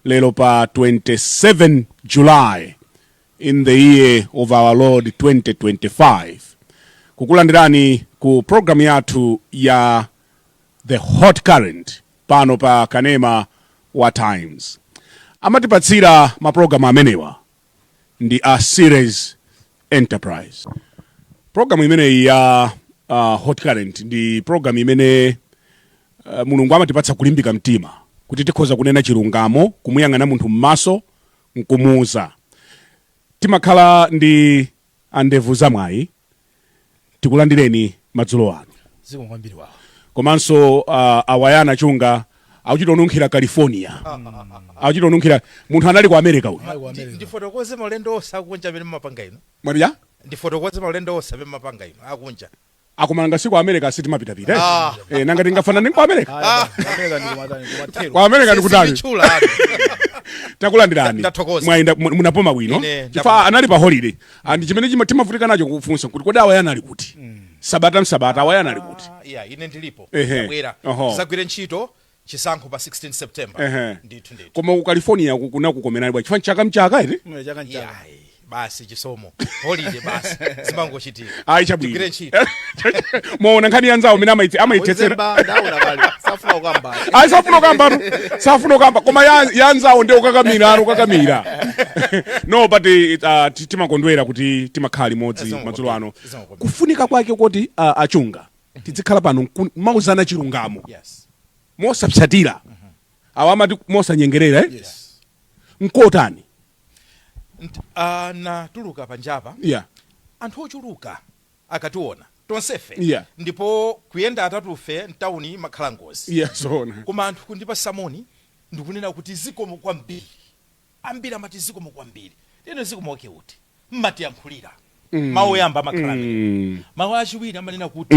lero pa 27 july in the year of our lord 2025 kukulandirani ku programu yathu ya the hot current pano pa kanema wa times amatipatsira maprogramu amenewa ndi a Series Enterprise. Programu imeneyi ya uh, Hot Current ndi programu imene uh, Mulungu amatipatsa kulimbika mtima kuti tikhoza kunena chilungamo, kumuyang'ana munthu m'maso nkumuuza. Timakhala ndi a ndevu za mwayi tikulandireni madzulo ano zikomo kwambiri wawa komanso uh, awa ndi a chunga akuchita kununkhira california akuchita kununkhira munthu anali ku america uyu Mayi wa Ndi- America. ndifotokoze maulendo onse akunja amene mumapanga inu mwapita ndifotokoze maulendo onse amene mumapanga inu akunja akoma nanga si ku america si timapitapita eh? Ah. eh, nanga tingafanana ndi ku america Ah. America ndi kumatani, kumathero. ku america ndi kutali Sinditchula apo. takulandirani Ndathokoza. mwayenda mu- munapoma bwino Ine, chifukwa ndapoma. anali pa holiday and chimene chima- timavutika nacho kufunsa kuti kodi awaya anali kuti sabata msabata awaya anali kuti Ah, yeah, ine ndilipo Ehe. Ndabwera. Oho. tisagwire ntchito chisankho pa 16 September. Ehe. Ndithu ndithu. Koma ku California ku- kunakukomerani bwanji chifukwa chaka nchaka iti? Mwe chaka nchaka. Yayi, basi chisomo. Holiday basi. Zimangochitika. Ayi chabwino. Tigwire ntchito. Mwaona nkhani yanzawo amene amaitse amaitsetsera. Wezemba ndaona kale. Safuna kukamba. Ayi safuna kukambatu. Safuna kukamba koma ya- yanzawo ndiye kukakamira inu kukakamira. No but eh, ah, ti- timakondwera kuti timakhala limodzi Zikomo madzulo ano. kwambiri, zikomo kwambiri. Kufunika kwake koti ah, a Chunga. tidzikhala pano nkumauzana chilungamo mosapsatira awa amati mosanyengerera eh? yes. nkutani tikatuluka ah, uh, panjapa yeah. anthu ochuluka akationa tonsefe yeah. ndipo kuyenda atatufe mtawuni imakhala ngozi yeah, koma anthu kutipatsa moni ndikunena kuti zikomo kwambiri ambiri amati zikomo kwambiri ndeno zikomo wake uti mmatiyankhulira mawu oyamba amakhala amene mawu achiwiri amanena kuti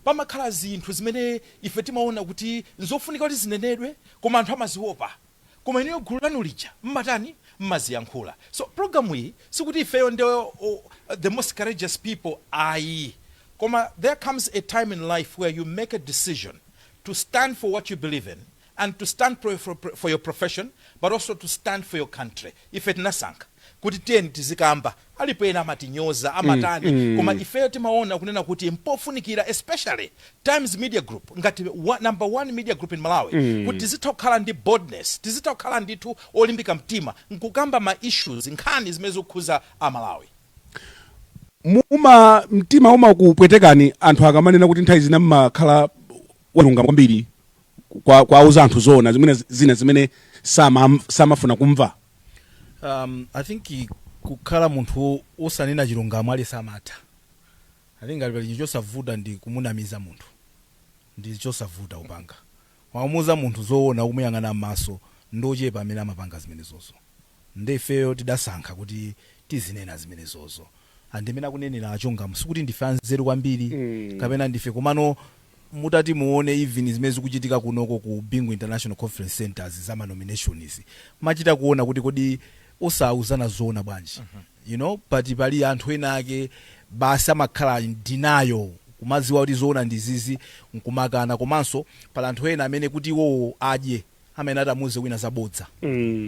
pamakhala zinthu zimene ife timaona kuti nzofunika kuti zinenedwe koma anthu amaziopa koma inuyo gulu lanu lija mmatani mmaziyankhula so programu iyi sikuti ifeyo ndi o- the most courageous people ayi koma there comes a time in life where you make a decision to stand for what you believe in and to stand pro for your profession but also to stand for your country ife tinasankha kuti tiyeni tizikamba alipo ena amatinyoza amatani mm, mm. koma ifeyo timaona kunena kuti mpofunikira especially times media group ngati number one media group in malawi mm. kuti tizitha kukhala ndi boldness tizitha kukhala ndithu olimbika mtima nkukamba ma issues nkhani zimene zikukhuza amalawi muma- mtima umakupwetekani anthu akamanena kuti nthawi zina mmakhala walungama kwambiri kwa kwauza anthu zoona zimene zina zimene sama samafuna kumva um, i think i- kukhala munthu wo- wosanena chilungamo ali samatha i think ngati pali chinthu chosavuta ndi kumunamiza munthu ndi chosavuta kupanga wamuuza munthu zoona ukumuyang'ana m'maso ndi ochepa amene amapanga zimenezozo Nde ifeyo tidasankha kuti tizinena zimenezozo and mmene akunenera a Chongamo sikuti ndife anzeru kwambiri kapena ndife komano mutati muone even zimene zikuchitika kunoko ku Bingu International Conference Centre'zi za ma nomination'zi mumachita kuona kuti kodi osauzana zoona bwanji you know but pali anthu ena ake basi amakhala in denial kumadziwa kuti zoona ndi izizi nkumakana komanso pali anthu ena amene kuti iwowo adye amene atamuuze wina zabodza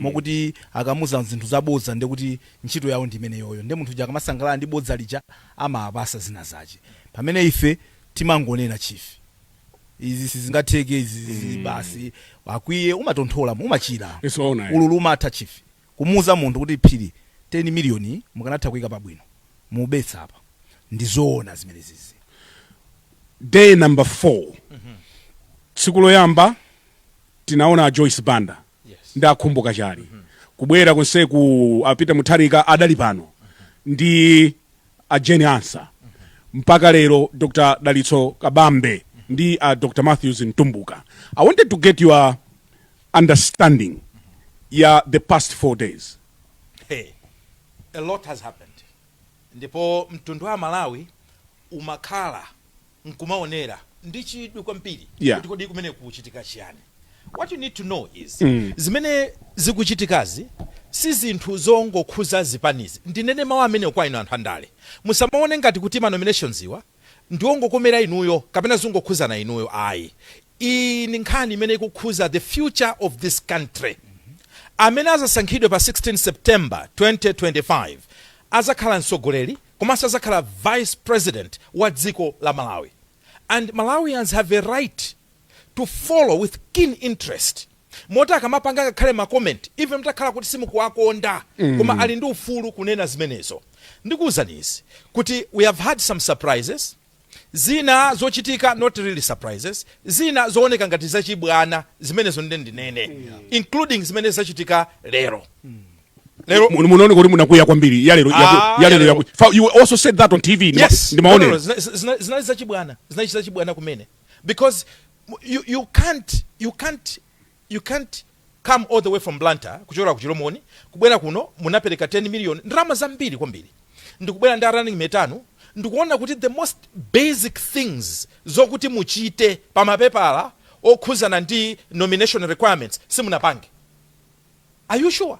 mokuti akamuza zinthu zabodza ndiye kuti ntchito yawo ndi imeneyoyo ndiye munthu uja akamasangalala ndi bodza lija amawapasa zina zache pamene ife timangonena chief izi sizingatheke izi izi basi akwiye umatonthola umachira Zoona, eh. ululu umatha chief kumuuza munthu kuti phiri 10 million yi mukanatha kuika pabwino mubetsa apa ndizoona zimenezizi. day number 4 tsiku loyamba tinaona a joyce banda ndi a Khumbo Kachali kubwera konseku a Peter Mutharika adali pano ndi a Jane Ansah mpaka lero dr dalitso kabambe ndi a dr matthews mtumbuka i wanted to get your understanding ya the past 4 days? Hey, a lot has happened ndipo mtundu wa Amalawi umakhala nkumaonera ndi chidwi kwambiri Yeah. kuti kodi kumeneku kuchitika chiyani what you need to know is Mm. zimene zikuchitikazi si zinthu zongokhuza zipanizi ndinene mawu amenewa kwa inu anthu andale musamaone ngati kuti manomination'ziwa ndi ongokomera inuyo kapena zongokhuzana inuyo ayi iyi ndi nkhani imene ikukhuza the future of this country amene azasankhidwe pa 16 September 2025 azakhala mtsogoleri komanso azakhala vice president wa dziko la Malawi and Malawians have a right to follow with keen interest Moti akamapanga ngakhale ma comment even mtakhala kuti simukuwakonda koma ali ndi ufulu kunena zimenezo. Ndikuuzani izi kuti we have had some surprises, zina zochitika not really surprises, zina zooneka ngati zachibwana zimenezo nde ndinene including zimene zachitika lero. Lero Mu- munaoneka kuti munakwiya kwambiri yalero yaku- Ah, yalero yalero. yaku- Fa- you also said that on tv ndima- Yes. ndimaonera No, no, no, zina- zina- zinali zachibwana zinali zachibwana kumene because you you can't you can't you can't come all the way from blantyre kuchokera ku chilomoni kubwera kuno munapereka 10 million ndalama zambiri kwambiri ndikubwera ndi a running mate anu ndikuona kuti the most basic things zokuti muchite pa mapepala okhuzana ndi nomination requirements simunapange are you sure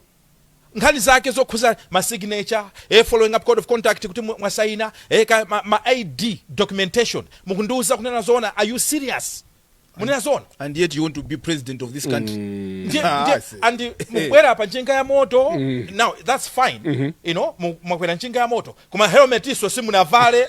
nkhani zake zokhuza ma signature, e following up code of conduct kuti mwasaina, e kaya ma ma ID documentation mukundiuza kunena zoona are you serious munena zoona and yet you want to be president of this country ndiye Ah, ndiye ase. and mubwera pa njinga ya moto now that's fine you know mu- mwakwera njinga ya moto koma helmet iso simunavale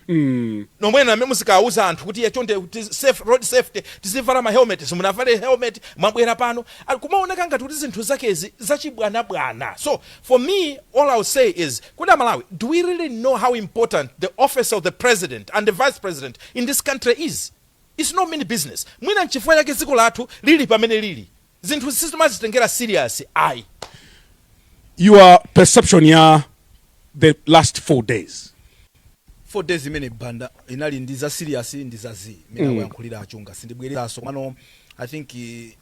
mm. nomwenu amene muzikauza anthu kuti ya chonde kuti safe, road safety tizivala ma helmet simunavale helmet mwabwera pano Ah, kumaoneka ngati kuti zinthu zakezi zachibwanabwana so for me all ill say is kuti amalawi do we really know how important the office of the president and the vice president in this country is its no mean business mwina nchifukwa chake dziko lathu lili pamene lili zinthu sitimazitengera serious ayi. your perception ya the last 4 days. 4 days imene Banda inali ndi za serious ndi za zii imene akuyankhulira a Chunga sindibwereranso komano I think eh,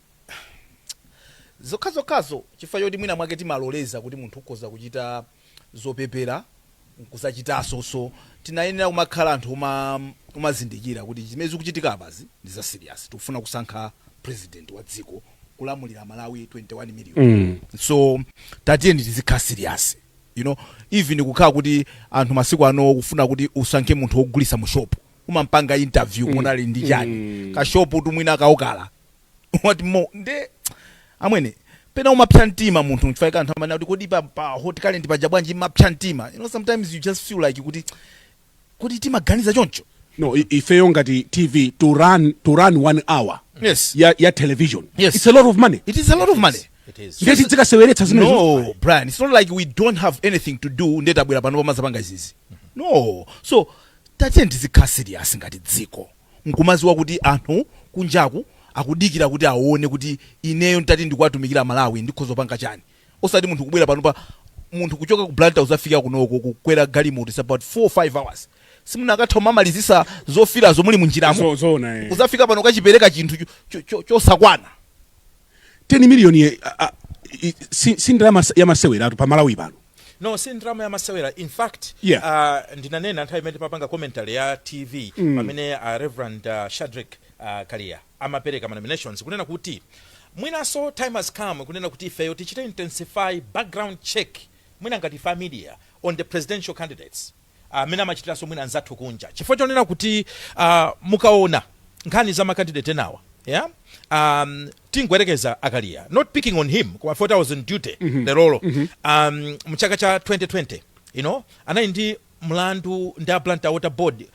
zokhazokhazo chifukwa choti mwina mwake timaloleza kuti munthu ukhoza kuchita zopepera nkuzachitanso so tinayenera kumakhala anthu oma omazindikira kuti zimene zikuchitika apazi ndi za serious tikufuna kusankha president wa dziko kulamulira amalawi 21 million Mm. so tatiyeni tizikhala serious you know even kukhala kuti anthu masiku ano kufuna kuti usankhe munthu wogulisa mu shop umampanga interview mm. munali ndi chani mm. ka shop tu mwina ka okala what more nde amwene pena umapsa mtima munthu nchifukwa chake anthu amanena kuti kodi pa, pa hot current paja bwanji mumapsa mtima you know sometimes you just feel like kuti kuti timaganiza choncho no i- ifeyo ngati tv to run, to run one hour yes ya, ya television Yes. it's a lot of money it is a lot of money It is. ndiye tidzikaseweretsa zimenezo no brian it's not like we don't have anything to do nde tabwera panopa kumazapanga izizi no so tatiyeni tizikhala serious ngati dziko nkumaziwa kuti anthu kunjaku akudikira kuti awone kuti ineyo ntati ndikuwatumikira amalawi ndikhoza kupanga chani osati munthu kubwera panopa munthu kuchoka ku blantyre kuzafika kunoko kukwera galimoto its about 4 or 5 hours simunakatha kumamalizisa zofilazo muli munjiramo Zo- zoona eh. kuzafika pano kachipereka chinthu cho- cho- cho- chosakwana 10 million ye, a, a, i- si, si ndalama s- ya maseweratu pa malawi pano no si ndrama ya masewera in fact Yeah. uh, ndinanena nthawi imene timapanga commentary ya tv mm. pamene uh, reverend uh, shadrick uh, kaliya amapereka manominations kunena kuti mwinanso time has come kunena kuti ifeyo tichite intensify background check mwina ngati ife a media on the presidential candidates mmene amachitiranso mwina anzathu kunja chifukwa chonena kuti uh, mukaona nkhani za makandidate enawa yeah? um, tingoyerekeza a kaliya not picking on him koma poti was on duty mm -hmm. lerolo mm -hmm. um, mchaka cha 2020 you know anali ndi mlandu ndi a blantyre water board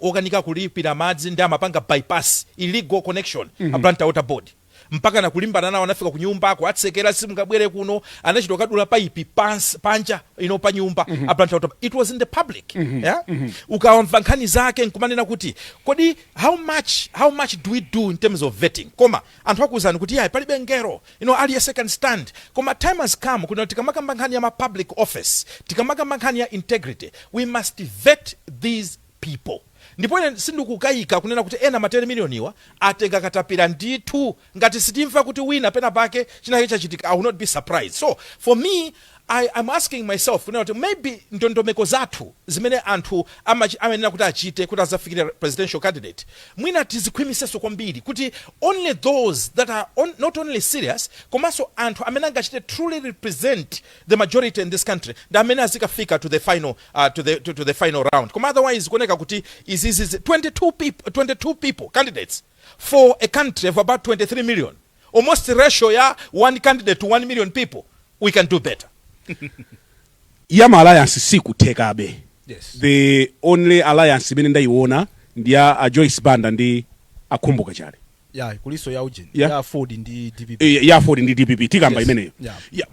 okanika kulipira madzi ndi amapanga bypass illegal connection mm -hmm. a blantyre water board mpakana kulimbana nawo anafika kunyumba akuwatsekera simungabwere kuno anachita kukadula paipi pans, panja you know pa nyumba mm -hmm. a blantyre water board. it was in the public mm -hmm. yeah? mm -hmm. ukamamva nkhani zake nkumanena kuti kodi how much how much do we do in terms of vetting koma anthu akuwuzani kuti yayi palibe mngelo you know, aliyense can stand koma time has come kuti tikamakamba nkhani ya ma public office tikamakamba nkhani ya integrity we must vet these people Ndipo ine sindikukaika kunena kuti ena ma teni milioniwa atenga katapira ndithu. Ngati sitimva kuti wina penapake chinachake chachitika, I will not be surprised. So, for me, I am asking myself kunena kuti maybe ndondomeko zathu zimene anthu amachi, amayenera kuti achite kuti azafikire presidential candidate mwina tizikhwimisenso kwambiri kuti only those that are on, not only serious komanso anthu amene angachite truly represent the majority in this country ndi amene azikafika to the final uh, to the to, to the final round koma otherwise kuoneka kuti izizi 22 people 22 people candidates for a country of about 23 million almost ratio ya one candidate to 1 million people we can do better ya ma alliance sikuthekabe Yes. the only alliance imene ndayiona ndi ya a joyce banda ndi a khumbo kachali ya kulinso ya ujeni ya, ya Aford ndi DPP e, ya Aford ndi DPP tikamba yes. imeneyo yeah. ya,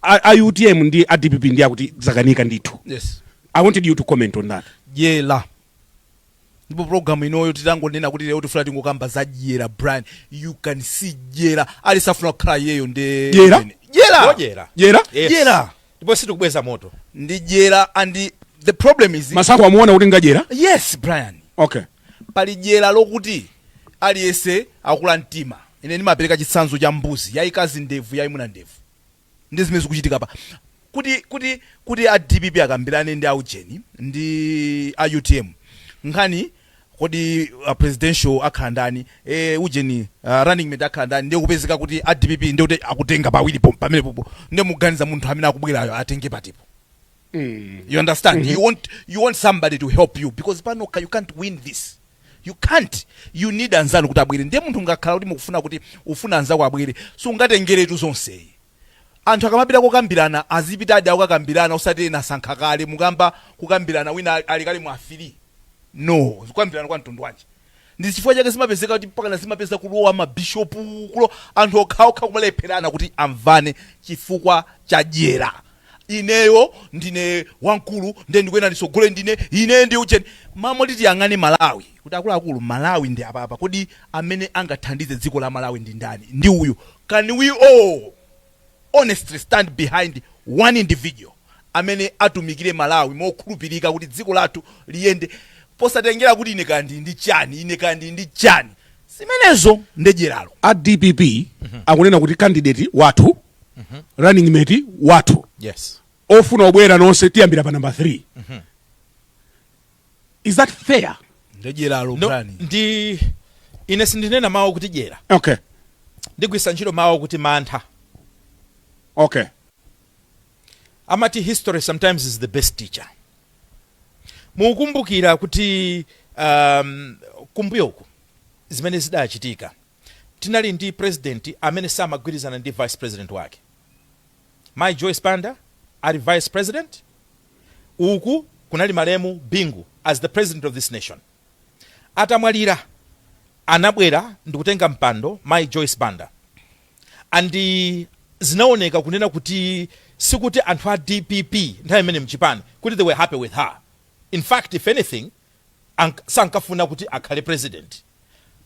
a, a UTM ndi a DPP ndi akuti zakanika ndithu yes i wanted you to comment on that dyera ndipo program inoyo titangonena kuti lero tifuna tingokamba za dyera brian you can see dyera aliyense afuna kukhala iyeyo nde dyera dyera dyera dyera yes. dyera ndipo sitikubweza moto ndi dyera and the problem is masaku amuona kuti ngwadyera yes brian okay Pali dyera lokuti aliyense akula mtima. Ine ndimapereka chitsanzo cha mbuzi, yayikazi ndevu, yayimuna ndevu. Ndi zimene zikuchitika apa. Kuti, kuti, kuti a dpp akambirane ndi a ujeni ndi a utm nkhani, kodi a presidential akhala ndani, e, ujeni, a, running mate akhala ndani, ndiye kupezeka kuti a dpp ndiye kuti akutenga pawiri pom, pamenepopo, ndiye muganiza munthu amene akubwerayo atenge patipo? you understand you want you want somebody to help you because panokha you can't win this you can't you need anzanu kuti abwere ndiye munthu mukakhala kuti mukufuna kuti ufuna anzako abwere sungatengeretu zonse anthu akamapita kokambirana azipitadi kukakambirana osati ena asankha kale mukamba kukambirana wina ali kale mu field no kukambirana kwa mtundu wanji Ndi chifukwa chake zimapezeka kuti mpakana zimapeza kulowa ma bishop kuloko anthu okhaokha kumalepherana kuti amvane chifukwa cha dyera. Ineyo ndine wamkulu ndiye ndikuyenera nditsogole ndine, ine ndi ujeni. M'malo moti tiyang'ane Malawi kuti akuluakulu Malawi ndi apapa kodi amene angathandize dziko la Malawi ndi ndani? Ndi uyu. Can we all. honestly stand behind one individual amene atumikire Malawi mokhulupirika kuti dziko lathu liyende posatengera kuti ine kaya ndili ndi chani, ine kaya ndili ndi chani. Zimenezo ndiye dyeralo. a dpp akunena kuti candidate wathu running mate wathu Yes. ofuna obwera nonse tiyambira pa namba 3 is that fair ndiye dyeralo no, Brian ndi ine sindinena mawu kuti dyera okay ndigwiritsa ntchito mawu kuti mantha okay amati history sometimes is the best teacher mukumbukira kuti um, kumbuyoku zimene zidachitika tinali ndi president amene samagwirizana ndi vice president wake mayi joyce banda ali vice president uku kunali malemu Bingu as the president of this nation atamwalira anabwera ndikutenga mpando mayi Joyce Banda and zinaoneka kunena kuti sikuti anthu a dpp nthawi imeneyo mchipani kuti they were happy with her in fact if anything sankafuna kuti akhale president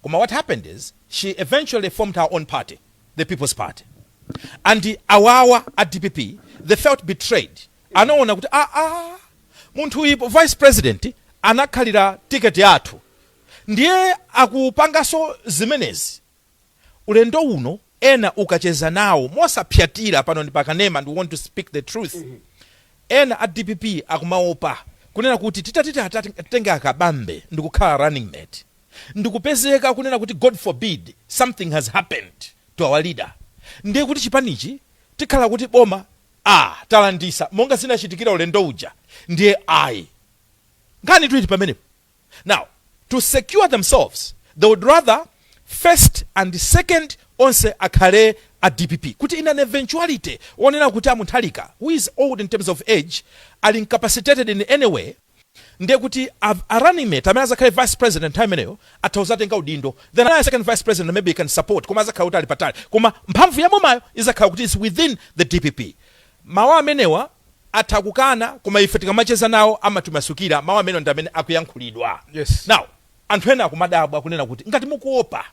koma what happened is she eventually formed her own party the people's party and awawa a dpp they felt betrayed Anaona kuti aa munthu u vice president anakhalira ticket yathu ndiye akupangaso zimenezi ulendo uno ena ukacheza nawo mosapsatira pano ndi pakanema and we want to speak the truth ena a dpp akumaopa kunena kuti titati tiatenge a Kabambe ndikukhala running mate ndikupezeka kunena kuti God forbid something has happened to our leader ndiye kuti chipanichi tikhala kuti boma aah talandisa monga zinachitikira ulendo uja ndiye ayi nkhanitu ili pamenepo now to secure themselves they would rather first and second onse akhale a dpp kuti in an eventuality onena kuti a Mutharika who is old in terms of age ali incapacitated in any way ndiye kuti a a running mate amene azakhale vice president nthawi imeneyo atha kuzatenga udindo then a second vice president maybe he can support koma azakhala kuti ali patali koma mphamvu ya bomayo izakhala kuti is within the dpp mawu amenewa atha kukana koma ife tikamacheza nawo amatimasukira mawu amenewa ndi amene akuyankhulidwa Yes. now anthu ena akumadabwa kunena kuti ngati mukuopa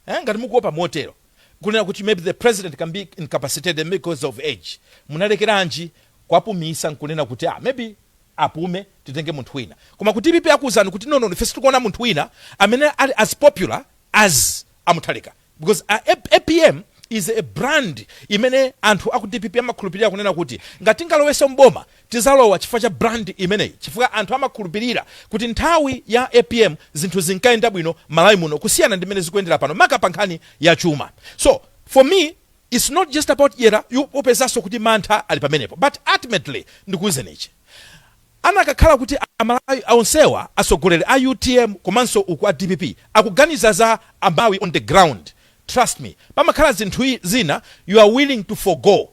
eh, ngati mukuopa motero kunena kuti maybe the president can be incapacitated because of age munalekeranji kuwapumitsa nkunena kuti ah, maybe apume titenge munthu wina koma ku dpp akuuzani kuti no no ife sitikuona munthu wina amene ali as popular as a Mutharika because a, a, apm is a brand imene anthu aku dpp amakhulupirira kunena kuti ngati tingalowenso mboma tizalowa chifukwa cha brand imeneyi chifukwa anthu amakhulupirira kuti nthawi ya apm zinthu zinkayenda bwino malawi muno kusiyana ndi mmene zikuyendera pano maka pa nkhani ya chuma so for me Its not just about dyera, upezanso kuti mantha ali pamenepo but ultimately ndikuuzeni ichi anakakhala kuti amalawi onsewa atsogoleri a utm komanso uku a dpp akuganiza za amalawi on the ground trust me pamakhala zinthu zina you are willing to forgo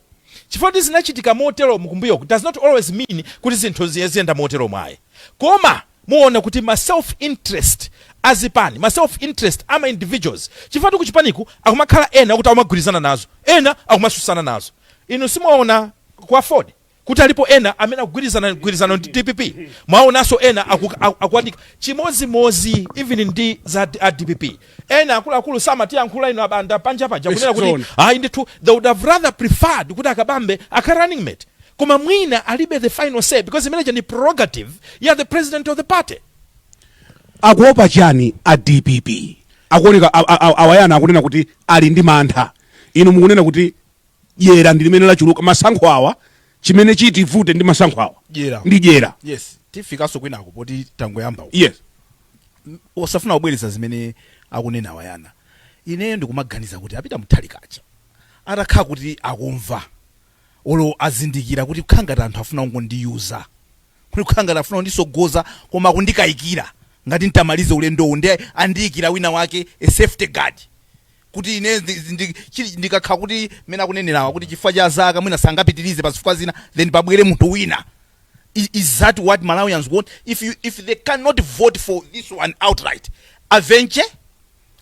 chifukwa kuti zinachitika moteromu kumbuyoku does not always mean kuti zinthu ziyenda moteromu ayi koma Muona kuti ma self interest a zipani, ma self interest ama individuals, chifukwa ku chipaniku akumakhala ena okuti akumagwirizana nazo, ena akumatsutsana nazo. Inu simuwaona ku afford kuti alipo ena amene akugwirizana gwirizano ndi dpp? Mwaonanso ena akukanika chimodzimodzi even ndi za a dpp. ena akuluakulu amatiyankhula ifeyo a Banda panja paja kunena kuti ayi ndithu they would have rather preferred kuti a Kabambe akhale running mate koma mwina alibe the final say because imeneja ndi prerogative ya the president of the party akuopa chani a dpp akuoneka awa Yona akunena kuti ali ndi mantha inu mukunena kuti dyera ndi limene lachuluka masankho awa chimene chitivute ndi masankho awa ndi dyera yes tifikanso kwinako poti tangoyamba yes osafuna kubwereza zimene akunena awa Yona ineyo ndikumaganiza kuti a Peter Mutharika aja atakhala kuti akumva olo azindikira kuti kukhala ngati anthu afuna kungondiyuza kuti kukhala ngati afuna kunditsogoza koma akundikayikira ngati ntamalize ulendowu nde andiyikira wina wake as safeguard kuti ine ndi- ndi- chili- ndikakhala kuti mmene akunenerawa kuti chifukwa cha zaka mwina sangapitirize pa zifukwa zina then pabwere munthu wina Is, is that what Malawians want? If you if they cannot vote for this one outright, a bentcha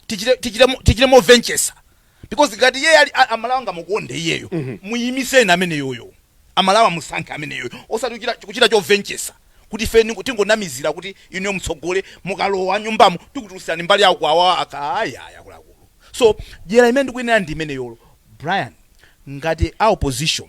tichite tichite mo- tichite mobentchetsa because ngati iye ali a- aMalawi angamukonde iyeyo muyimiseni ameneyoyo aMalawi amusankhe ameneyoyo osati kuchita kuchita chobentchetsa kuti ife tingonamizira kuti inuyo mutsogole mukalowa nyumbamo tikutulutsirani mbali yawo kwawa akayaya kulakulu so dyera imene ndikuyinena ndi imeneyoyo brian ngati a opposition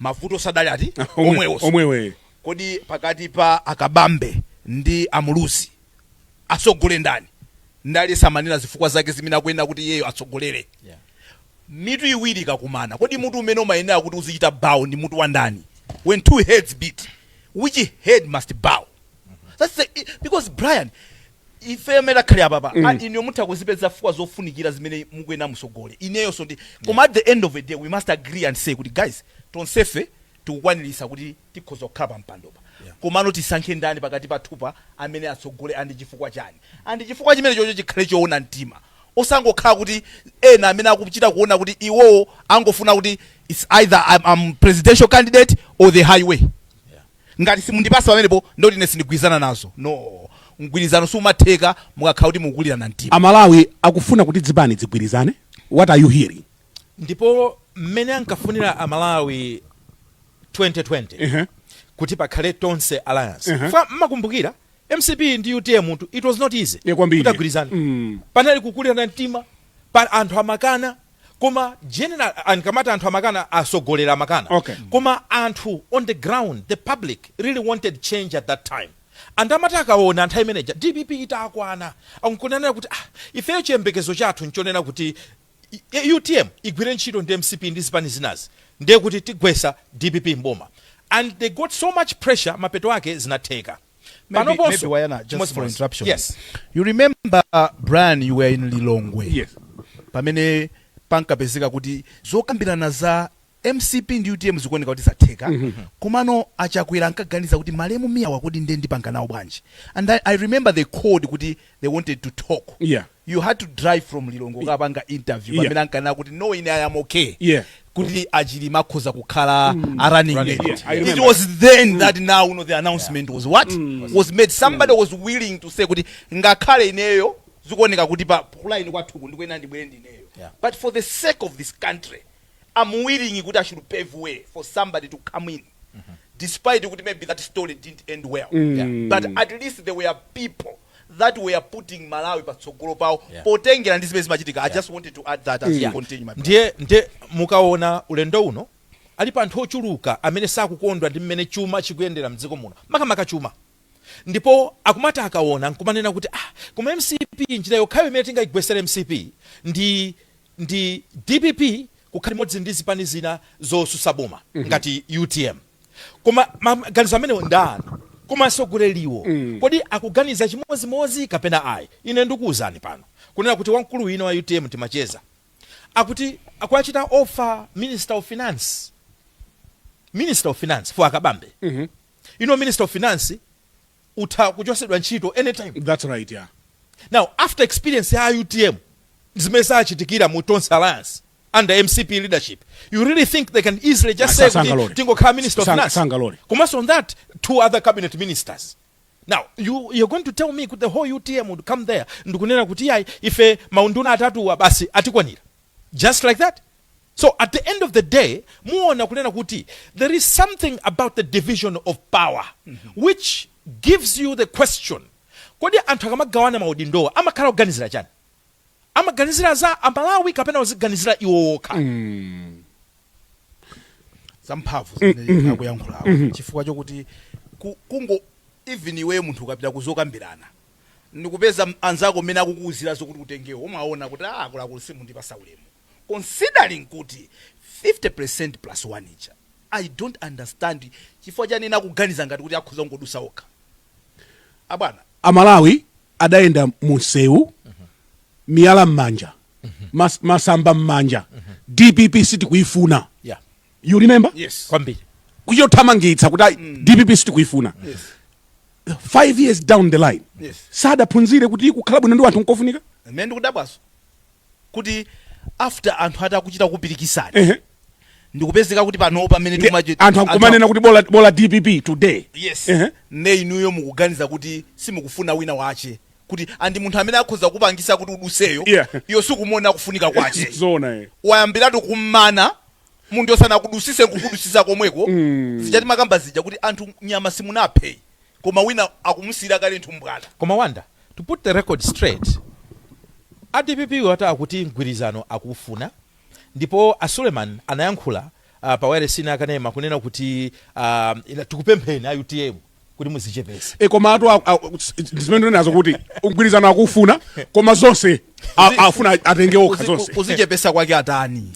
mavuto adali ati omwewo omwewe kodi pakati pa a Kabambe ndi a Muluzi atsogole ndani nde samanena zifukwa zake zimene akunena kuti iyeyo atsogolere Yeah. mitu iwiri ikakumana kodi mutu umene umayenera kuti uzichita bow ndi mutu wa ndani when two heads meet which head must bow That's the, because brian ifeyo mmene takhali apapa mm. Ah, inuyo mutha kuzipeza fukwa zofunikira zimene mukuyenera musogole ineyonso ndi koma at the end of the day we must agree and say kuti guys tonsefe tikukwanirisa kuti tikhoza kukhala pa mpandopa yeah. komano tisankhe ndani pakati pathupa amene atsogole and chifukwa chani and chifukwa chimene chocho chikhale choona mtima osangokhala kuti ena amene akuchita kuona kuti iwowo angofuna kuti its either I'm, I'm presidential candidate or the highway yeah. Ngati simundipasa pamenepo ndekuti ine sindigwirizana nazo. No. Mgwirizano sumatheka mukakhala kuti mukukulirana mtima. Amalawi akufuna kuti dzipani dzigwirizane, what are you hearing? Ndipo mmene ankafunira Amalawi 2020 kuti pakhale Tonse Alliance. Chifukwa mmakumbukira mcp ndi utm it was not easy kuti agwirizane. Panali kukulirana mtima. pali anthu amakana koma general ankamati anthu amakana asogolera amakana okay. koma anthu on the ground the public really wanted change at that time and amati akaona nthawi imene ija dpp itakwana nkunanena kuti ah, ifeyo chiyembekezo chathu nchonena kuti utm igwire ntchito ndi mcp ndi zipani zinazi ndiye kuti tigwesa dpp mboma and they got so much pressure mapeto ake zinatheka Maybe- Panoponso, maybe wayana, just chimodzi chimodzi. for interruption. Yes. You remember Brian you were in Lilongwe. Yes. Pamene pankapezeka kuti zokambirana za MCP ndi UTM zikuoneka kuti zatheka. Komano achakwera ankaganiza kuti malemu Mia wa kodi nde ndipanga nawo bwanji. And I, I remember he called kuti they wanted to talk. Yeah. you had to drive from lilongwe kukapanga interview Yeah. pamene ankanena kuti no ine i am okay Yeah. kuti achilima akhoza kukhala a running mate Yeah, I remember. it was then that now you know, the announcement was what was made somebody was willing to say kuti ngakhale ineyo zikuoneka kuti kulaini kwathuku ndikuyenera ndibwere ndineyo Yeah. but for the sake of this country i'm willing kuti i should pave way for somebody to come in despite kuti maybe that story didn't end well Yeah. but at least there were people that were putting Malawi patsogolo pawo yeah. potengera ndi zimene zimachitika yeah. I just wanted to add that as you continue my ndiye ndiye mukaona ulendo uno alipo anthu ochuluka amene sakukondwa ndi mmene chuma chikuyendera mdziko muno makamaka chuma ndipo akumati akaona nkumanena kuti ah koma mcp njira yokhayo imene tingayigwesere mcp ndi dpp kukhala limodzi ndi zipani zina zosusa boma mm -hmm. ngati utm koma maganizo amenewo nda anthu koma asogoleriwo mm. kodi akuganiza chimozimozi kapena ayi ine ndikuwuzani pano kunena kuti wamkulu wina wa utm timacheza akuti akuachita offer minister of finance minister of finance for akabambe mm -hmm. you know minister of finance utha kuchosedwa ntchito anytime that's right yeah now after experience ya utm zimene zachitikira mu tonse alliance under mcp leadership you really think they can easily just say kuti tingokhala minister of finance komanso on that two other cabinet ministers now you, you're going to tell me kuti the whole utm would come there ndikunena kuti yayi ife maunduna atatuwa basi atikwanira just like that so at the end of the day muona kunena kuti there is something about the division of power which gives you the question kodi anthu akamagawana maudindowa amakhala kuganizira chani amaganizira za amalawi kapena kuziganizira iwo wokha zamphamvu zimene akuyankhulawo chifukwa chokuti ku- kungo even iweyo munthu ukapita kuzokambirana ndikupeza m- anzako mmene akukuwuzira zokuti utengewo umaona kuti ah, akuluakulu simukundipasa ulemu considering kuti 50 plus 1 ija i don't understand chifukwa chani ena akuganiza ngati kuti akhoza kungodusa okha abwana amalawi adayenda munsewu miyala mmanja mas, masamba mmanja dpp sitikuyifuna yeah. you remember yes. kwambiri kuithamangitsa kuti mm. dpp sitikuyifuna yes. five years down the line yes. sadaphunzire kuti kukhala bwino ndi wanthu nkofunika mene ndikudabwaso kuti after anthu atakuchita kupirikisani Ehe. ndikupezeka kuti pano pamene Ndi- timachi- anthu akumanena kuti bola bola dpp today yes Ehe. ne inuyo mukuganiza kuti simukufuna wina wache kuti ndi munthu amene akhoza kupangisa kuti uduseyo Yeah. iyo sikumuona kufunika kwache zona eh. wayambiratu kummana munthu usanakudusise kukudusisa komweko mm. zili ngati mumakamba zija kuti anthu nyama simunaphe koma wina akumusiyira kale nthumbwana. Koma Wonder, to put the record straight, a dpp wo ati akuti mgwirizano akuufuna ndipo a Suleman anayankhula ah, pa wailesi ina yakanema kunena kuti ah, ila- tikupempheni a utm kuti muzichepese e koma atu a- a- ndi zimenezo kuti mgwirizano akuufuna koma zonse a- afuna atenge okha Kuzi- zonse kuzichepesa kwake atani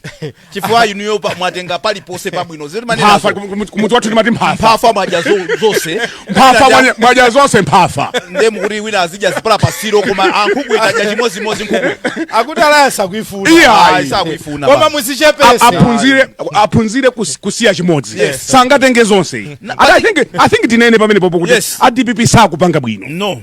chifukwa inuyo pa- mwatenga paliponse pabwino ziri mphafa mmanenazo kum- kum- kumudzi wathu timati mphafa mphafa mwadya zo- zonse mphafa mwadya- mwadya zonse mphafa nde mukuti wina azidya zipala pasiro koma nkhuku ikadya chimodzimodzi nkhuku akuti alaya sakuifuna Iya. Ayi, sakuifuna koma basi. A- muzichepese aphunzire aphunzire kus- kusiya chimodzi Yes. sangatenge zonse Na- And I think- i think tinene pamenepopo kuti Yes. a dpp sakupanga bwino no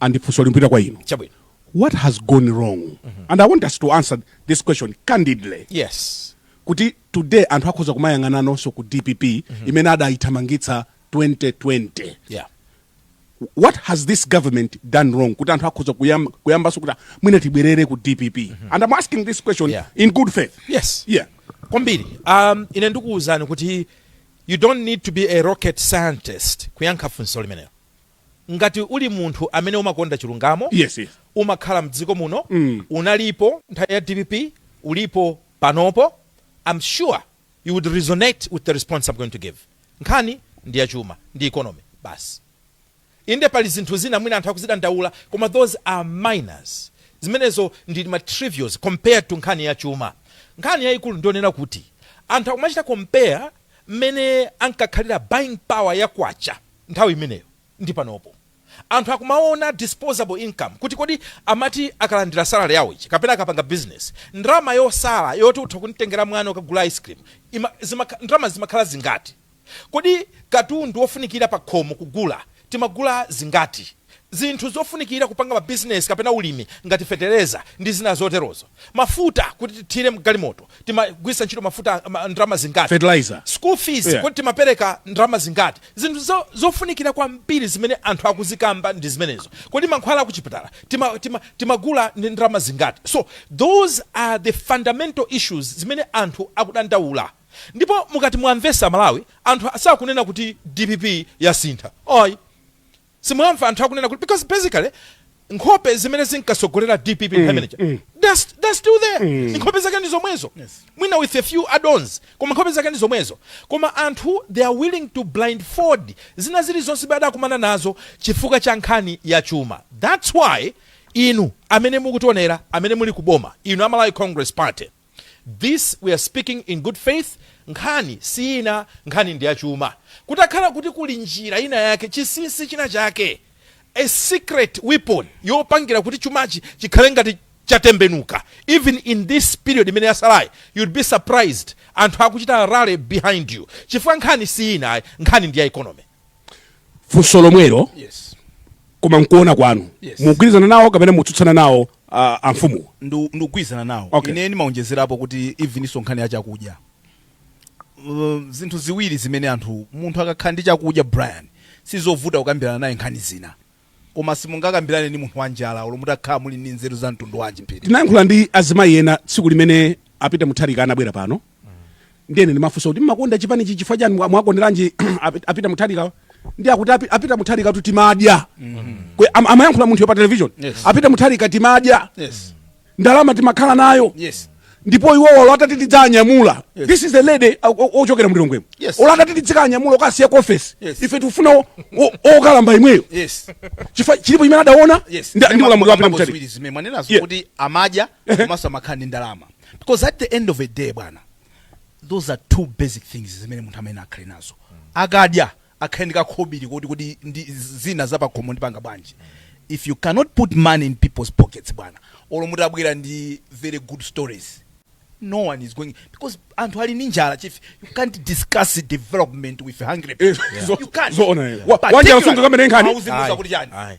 and funso limpita kwa inu chabwino what has gone wrong mm -hmm. and i want us to answer this question candidly yes kuti today anthu akhoza kumayang'ananso ku dpp mm -hmm. imene adayithamangitsa 2020 yeah what has this government done wrong kuti anthu akhoza kuyam, kuyambanso kuti mwina tibwerere ku dpp mm -hmm. and i'm asking this question yeah. in good faith yes yeah kwambiri um, ine ndikuwuzani kuti you don't need to be a rocket scientist kuyankha funso limenelo ngati uli munthu amene umakonda chilungamo Yes, yes. umakhala mdziko muno unalipo nthawi ya dpp ulipo panopo am sure you would resonate with the response i'm going to give nkhani ndi yachuma ndi economy basi inde pali zinthu zina mwina anthu akuzidandaula koma those are minors zimenezo ndi ma trivials compared to nkhani ya chuma nkhani yayikulu ndi yonena kuti anthu akumachita compare mmene ankakhalira buying power ya kwacha nthawi imeneyo ndi panopo anthu akumaona disposable income kuti kodi amati akalandira salary yawo ija kapena akapanga business ndalama yosala yoti utha kumtengera mwana ukamugulira ice cream ima, zimakha, ndalama zimakhala zingati kodi katundu wofunikira pakhomo kugula timagula zingati zinthu zofunikira kupanga mabizinesi kapena ulimi ngati fetereza ndi zina zoterozo, mafuta kuti tithire mgalimoto timagwiritsa ntchito mafuta ma, ndalama zingati, Fertilizer. school fees Yeah. kodi timapereka ndalama zingati, zinthu zo, zofunikira kwambiri zimene anthu akuzikamba ndi zimenezo. Kodi mankhwala akuchipatala tima, tima, timagula ndi ndalama zingati? So those are the fundamental issues zimene anthu akudandaula ndipo mukati muwamvetse aMalawi anthu sakunena kuti dpp yasintha ayi Simuwamva anthu akunena kuti because basically nkhope zimene zinkatsogolera dpp mm, mm. They're still there mm. nkhope zake ndi zomwezo yes. mwina with a few addons koma nkhope zake ndi zomwezo koma anthu they are willing to blindfold zina zili zonse bad akumana nazo chifukwa cha nkhani ya chuma that's why inu amene mukutionera amene muli kuboma inu amalawi congress party This we are speaking in good faith, Nkhani si ina, nkhani ndi ya chuma. Kutakhala kuti kuli njira ina yake, chinsinsi china chake, a secret weapon yopangira kuti chumachi chikhale ngati chatembenuka, even in this period imene yatsalayi, you'd be surprised anthu akuchita rally behind you. Chifukwa nkhani si ina ayi, nkhani ndi ya economy. funso lomwelo yes koma mkuona kwanu Yes. mugwirizana nawo kapena mutsutsana nawo uh, amfumuwo Ndu- ndikugwirizana nawo Okay. ine ndimaonjezerapo kuti evenso nkhani ya chakudya Uh, zinthu ziwiri zimene anthu munthu akakhala ndi chakudya brian sizovuta kukambirana naye nkhani zina Koma simungakambirane ndi munthu wanjala olo mutakhala muli ndi nzeru za mtundu wanji. Tinayankhula ndi azimayi ena tsiku limene a Peter Mutharika anabwera pano ndiye ine ndimafunsa kuti mmakonda chipanichi chifukwa chani mwa- mwakonderanji a Pet- a Peter Mutharika ndi akuti a Pe- a Peter Mutharikatu timadya Kwe- am- amayankhula munthu pa television Yes. a Peter Mutharika timadya Yes. ndalama timakhala nayo yes ndipo iwowo olo atati tidzanyamula yes. this is the lady ochokera mlilongwemo yes. olo atati tidzikanyamula kukawasiya ku ofesi yes. ife tikufuna okalamba imweyo yes. chifukwa chilipo chimene adaona yes. ndi ulamuliro wa Peter Mutharika zimene mwanenazo yeah. kuti amadya komanso amakhala ndi ndalama because at the end of the day bwana those are two basic things zimene munthu amayenera akhale nazo akadya akhale ndi kakhobili koti kodi izi zina za pakhomo ndipanga bwanji if you cannot put money in people's pockets bwana olo mutabwera ndi very good stories no one is going because anthu ali ndi njala chief you can't discuss development with hungry people you can't Zoona, yeah. Wa- Particularly- wanjala sungakambe naye nkhani. Hauzimuza Ayi, kuti chani ayi.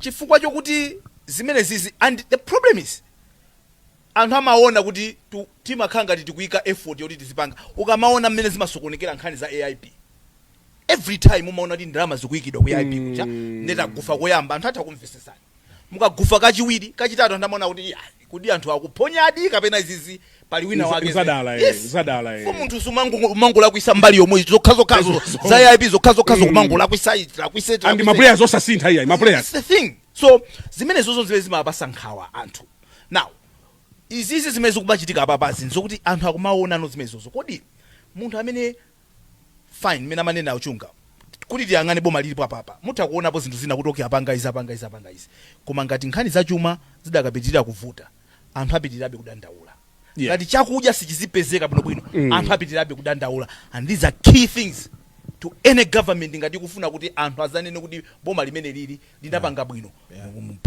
chifukwa chokuti zimenezizi and the problem is anthu amaona kuti tu- timakhala ngati tikuika effort yoti tizipanga ukamaona mmene zimasokonekera nkhani za aip every time umaona kuti ndalama zikuyikidwa ku aip kuja nde mutagufa koyamba anthu atha kumvesesani mukagufa kachiwiri kachitatu anthu amaona kuti iya kodi anthu akuphonyadi kapena izizi pali wina Nza- wake nzadala, eh, Yes. nzadala, eh. For munthu sumangu- sumangolakwisa mbali yomwe zokhazokhazo Zozo. za aip zokhazokhazo kumangolakwisa ichi, lakwisa ichi, and lakwisa ichi. maplayers osasintha iyayi maplayers That's the thing so zimenezozo zimene zimapasa nkhawa anthu now izizi zimene zikumachitika apapazi nzokuti anthu akumaonano zimenezozo kodi munthu amene fine mmene amanenera a Chunga kuti tiyang'ane boma lilipo apapa mutha kuonapo zinthu zina kuti okay apanga izi apanga izi apanga izi koma ngati nkhani za chuma zidakapitirira kuvuta anthu apitirirabe kudandaula Yeah. ngati chakudya sichizipezeka bwinobwino Eh. anthu apitirirabe kudandaula and these are key things to any government ngati ikufuna kuti anthu azanene kuti boma limeneli li linapanga bwino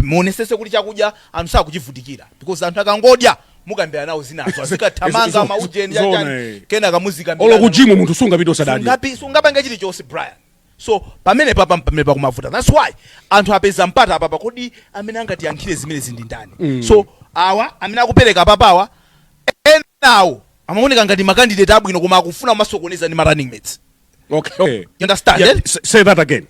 muonesese kuti chakudya anthu sakuchivutikira because anthu akangodya mukambira nawo zinazo azikathamanga Zo- zo- maujeni zoona, yachani eh. kenaka muzikambira olo kujimu munthu sungapita usadadye Sungapi- sungapange chilichonse brian so pamene papa pamene pakumavuta thats why anthu apeza mpata apapa kodi amene angatiyankhire zimenezi ndi ndani so awa amene akupereka apapawa enawo amaoneka ngati makandidate abwino koma akufuna kumasokoneza ndi ma running mates Okay. okay. You understand? Yeah, s- say that again.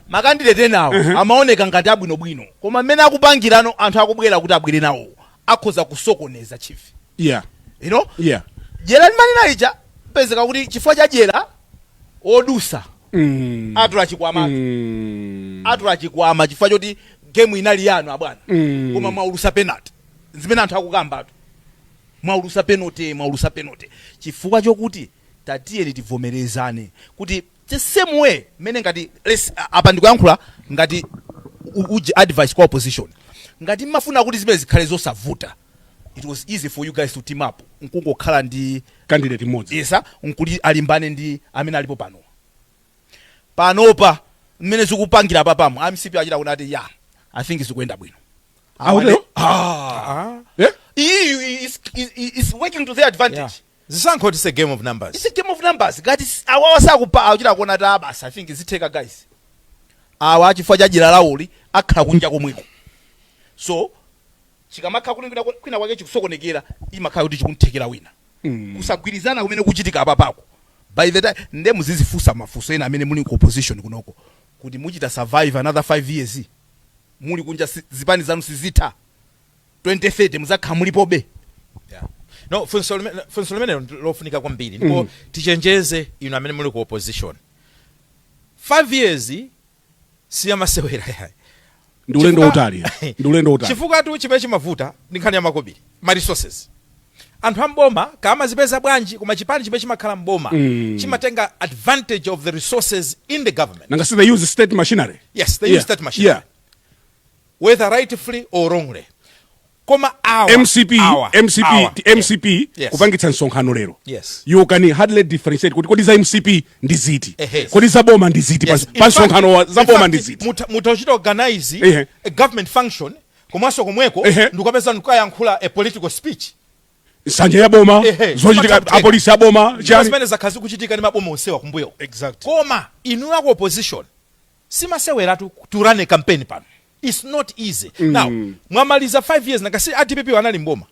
makandidate enawo amaoneka ngati abwinobwino koma mmene akupangirano anthu akubwera kuti abwere nawo akhoza kusokoneza chief Yeah. you know Yeah. jera limanena ija pezeka kuti chifukwa cha jera odusa Mm. atula chikwama Mm. atula chikwama chifukwa choti game inali yanu abwana Mm. koma mwaulusa penalty zimene anthu akukambatu Mwaulusa penote mwaulusa penote chifukwa chokuti tatiyeni tivomerezane kuti the same way mmene ngati lets apa ndikuyankhula ngati uj advice kwa opposition ngati mmafuna kuti zimene zikhale zosavuta it was easy for you guys to team up nkungokhala ndi candidate mmodzi yes nkuti alimbane ndi amene alipo panowa panopa mmene zikupangira apapa mu MCP achita kunena kuti ya i think zikuyenda bwino Ah, Awa- utero? Ah. Eh? iyiyu is, is, is working to their advantage Yeah. zisankho it's a game of numbers it's a game of numbers ngati s- awawa sakupa akuchita kuona kuti basi i think zitheka guys awa chifukwa cha njira yawoyi akhala kunja komweko so chikamakhala kuti kwina- kwina kwake chikusokonekera imakhala kuti chikunthekera wina kusagwirizana kumene kuchitika apapako by the time nde muzizifunsa mafunso ena amene muli ku opposition kunoko kuti muchita survive another 5 years muli kunja si, zipani zanu sizitha 2030 muzakhala mulipobe yeah. no funso limenelo ndilofunika kwambiri ndipo mm. tichenjeze inu amene muli ku opposition 5 years siyamasewera yayi ndi ulendo Chifukwa- wautali ndi ulendo wautali chifukwatu chimene chimavuta ndi nkhani ya makobiri ma resources anthu am'boma kaya amazipeza bwanji koma chipani chimene chimakhala m'boma Mm. chimatenga advantage of the resources in the government nanga si they use state machinery yes they Yeah. use state machinery yeah whether rightfully or wrongly koma awa mcp awa, mcp awa. ti- mcp Yes. kupangitsa msonkhano lero Yes. you can hardly differentiate kuti kodi za mcp ndi ziti Ehe. kodi za boma ndi ziti Yes. pa- In pa fact- msonkhano wa- za in boma fact, ndi ziti muta- mutachita organize Ehe. a government function komanso komweko Ehe. ndikukapeza ndikukayankhula a political speech nsanja ya boma Ehe. zochitika Pataputeka. apolisi a boma Ndipo chani zimene zakhala zikuchitika ndi maboma onsewa kumbuyo Exactly. koma inu aku opposition simaseweratu to run a campaign pano its not easy mm. now mwamaliza 5 years nanga si a dpp anali m'boma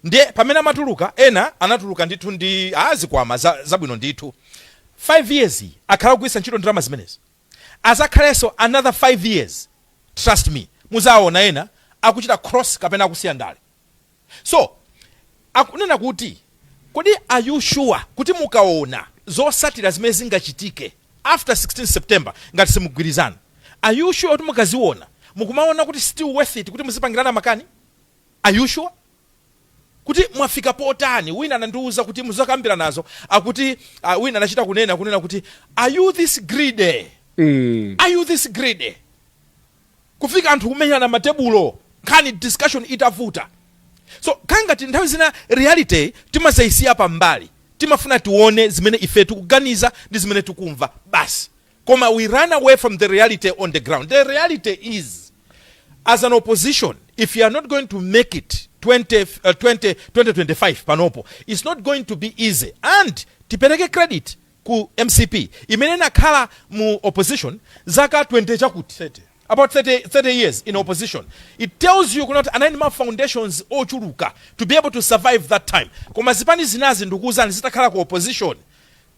ndiye pamene amatuluka ena anatuluka ndithu ndi zikwama zabwino zabwino ndithu 5 years iyi akhala kugwiritsa ntchito ndalama zimenezi azakhalenso another 5 years trust me muzaona ena akuchita cross kapena akusiya ndale So akunena kuti kodi are you sure kuti mukaona zosatira zimene zingachitike after 16 September ngati simugwirizana are you sure kuti mukaziona mukumaona kuti still worth it kuti muzipangirana makani? Are you sure kuti mwafika potani? Wina anandiuza kuti muzakambiranazo akuti ah, wina anachita kunena kunena kuti are you this greedy? Are you this greedy? kufika anthu kumenyana matebulo nkhani discussion itavuta so kaya ngati nthawi zina reality timazaisiya pambali timafuna tione zimene ife tikuganiza ndi zimene tikumva basi koma we run away from the reality on the ground the reality is as an opposition if you are not going to make it 20, uh, 20, 2025 panopo it's not going to be easy and tipereke credit ku mcp imene inakhala mu opposition zaka 20 chakuti-chakuti about 30 30 years in opposition it tells you kuti anali ndi ma foundations ochuluka to be able to survive that time koma zipani zinazi ndikuwuzani zitakhala ku opposition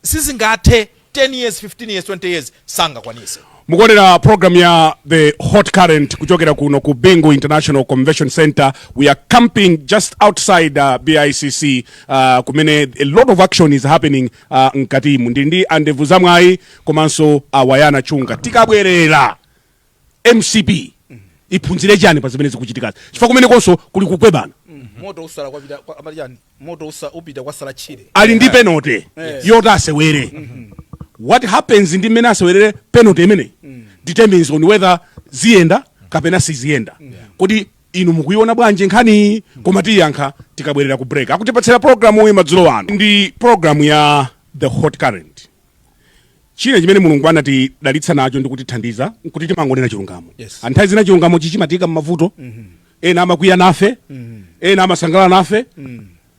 sizingathe 10 years 15 years 20 years sangakwanise mukuonera program ya the hot current kuchokera kuno ku bingu international convention center we are camping just outside uh, bicc uh, kumene a lot of action is happening uh, mkatimu ndili ndi a Ndevuzamwayi komanso a Wayana Chunga tikabwerera mcp iphunzire chani pa zimene zikuchitikazi chifukwa kumenekonso kuli kukwebana moto usala kwapita kwa- amati chani moto upita kwasala tchire ali ndi penalty yoti asewere what happens ndi mmene asewerere penalty imeneyi determines on whether ziyenda kapena siziyenda kodi inu mukuiona bwanji nkhani koma tiyankha tikabwerera ku break akutipatsira programuyi madzulo ano ndi programu ya the hot current china chimene mulungu anatidalitsa nacho ndi kutithandiza kuti timangonena chilungamo Yes. Ah, nthawi zina chilungamo chimatiika mmavuto ena amakwiya nafe ena amasangalala nafe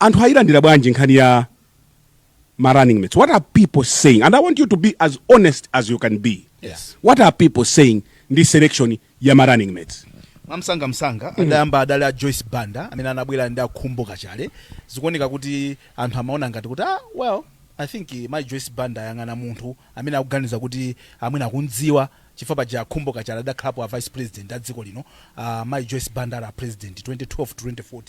Anthu ayilandira bwanji nkhani ya ma running mates? What are people saying? And I want you to be as honest as you can be. Yes. What are people saying ndi selection ya ma running mates? mwamsanga msanga mm. adayamba adali a joyce banda amene anabwera ndi a Khumbo Kachali zikuoneka kuti anthu amaona ngati kuti ah, well i think eh, mayi joyce banda ayang'ana munthu amene akuganiza kuti amwene akumdziwa chifukwa paja a Khumbo kachali adakhalapo a vice president a dziko lino a mayi Joyce Banda ali a president 2012 to 2014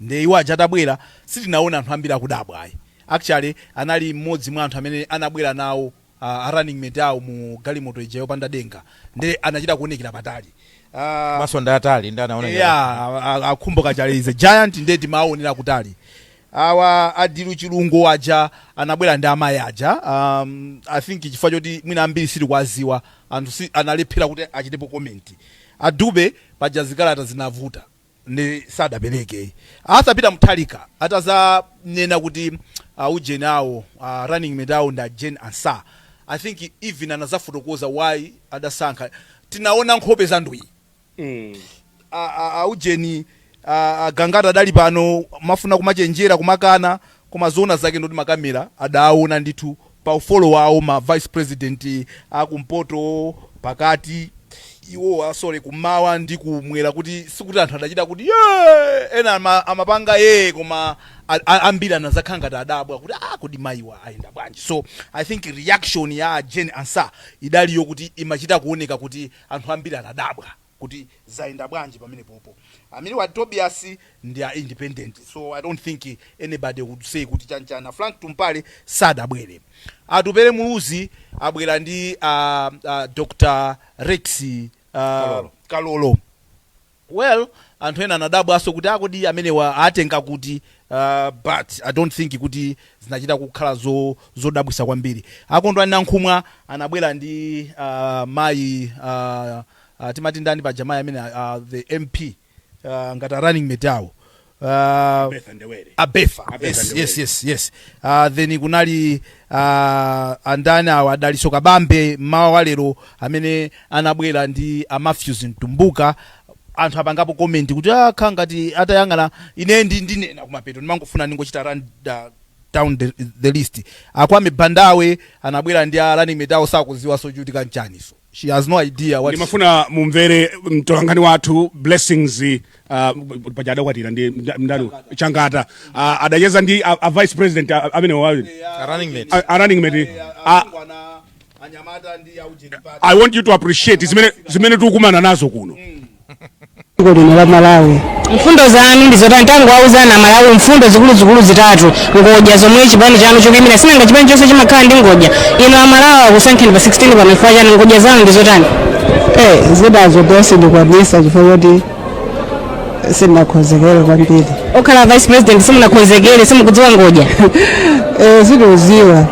ndiye iwo aja atabwera sitinaone anthu ambiri akudabwa ayi actually anali mmodzi mwa anthu amene anabwera nawo a running mate awo mu galimoto ija yopanda denga nde anachita kuwonekera patali a Komanso ndi atali ndinaona ngati. eya a- a- a Khumbo kachali is a giant nde timawonera kutali Awa a Dilu Chilungo aja anabwera ndi amayi aja um, I think chifukwa choti mwina ambiri sitikuwaziwa anthu analephera kuti achitepo comment. A Dube paja zikalata zinavuta nde sadapereke. Arthur Peter Mutharika atazanena kuti a ujeni awo a running mate awo ndi a Jane Ansah I think even anazafotokoza why adasankha tinaona nkhope zandwii a a a ujeni a a gangata adali pano amafuna kumachenjera kumakana koma zoona zake ndoti makamera adaawona ndithu pa mfolo wawo ma vice president a kumpoto pakati iwowa sorry kummawa ndi kumwera kuti sikuti anthu adachita kuti "Yee!" ena ama, amapanga yee koma a- a- ambiri anazakhala ngati adabwa kuti ah kodi mayiwa ayenda bwanji so i think reaction ya a Jane Ansah idaliyo kuti imachita kuoneka kuti Anthu ambiri anadabwa kuti zayenda bwanji pamenepopo. Amenewo a Tobias ndi a independent so I don't think anybody would say kuti chani chani. A Frank Tumpale sadabwere. Atupele Muluzi abwera ndi a Dr Rex Kalolo. Well anthu ena anadabwanso kuti a kodi amenewa atenga kuti aah but I don't think kuti zinachita kukhala zodabwisa kwambiri. A Kondwani Nankhumwa anabwera ndi aah mayi aah timati ndani paja mayi amene aah the MP aah ngati a running mate awo. uh, Bertha Ndebele. a Bertha a Bertha yes, Ndebele. yes, yes, yes. Uh, then kunali uh, andani awa a Dalitso Kabambe mmawa wa lero amene anabwera ndi a Matthews Mtumbuka anthu apangapo comment kuti akha ngati atayang'ana ine ndi ndinena kumapeto ndimangofuna ndingochita run uh, down the, the list Akwame Bandawe anabwera ndi a running mate awo sakuziwa zochitika nchaniso she has no idea what ndimafuna mumvere mtolankhani wathu Blessings uh, paja adakwatira ndi mda- mdani Changata uh, adacheza ndi a, a vice president a- amene wayo A running mate. a- a running mate a, anyamata ndi aujeni party i want you to appreciate zimene zimene tikukumana nazo kuno dziko lino la malawi mfundo zanu ndizotani tangowauzani amalawi mfundo zikuluzikulu zitatu ngodya zomwe chipani chanu chikuyimira sinanga chipani chonse chimakhala ndi ngodya inu amalawi akusankheni pa 16 pano chifukwa chani ngodya zanu ndizotani Eh, zinazo sindikwanisa chifukwa choti sindinakonzekere kwambiri okhala vice president simunakonzekere simukudziwa ngodya Eh, sindikudziwa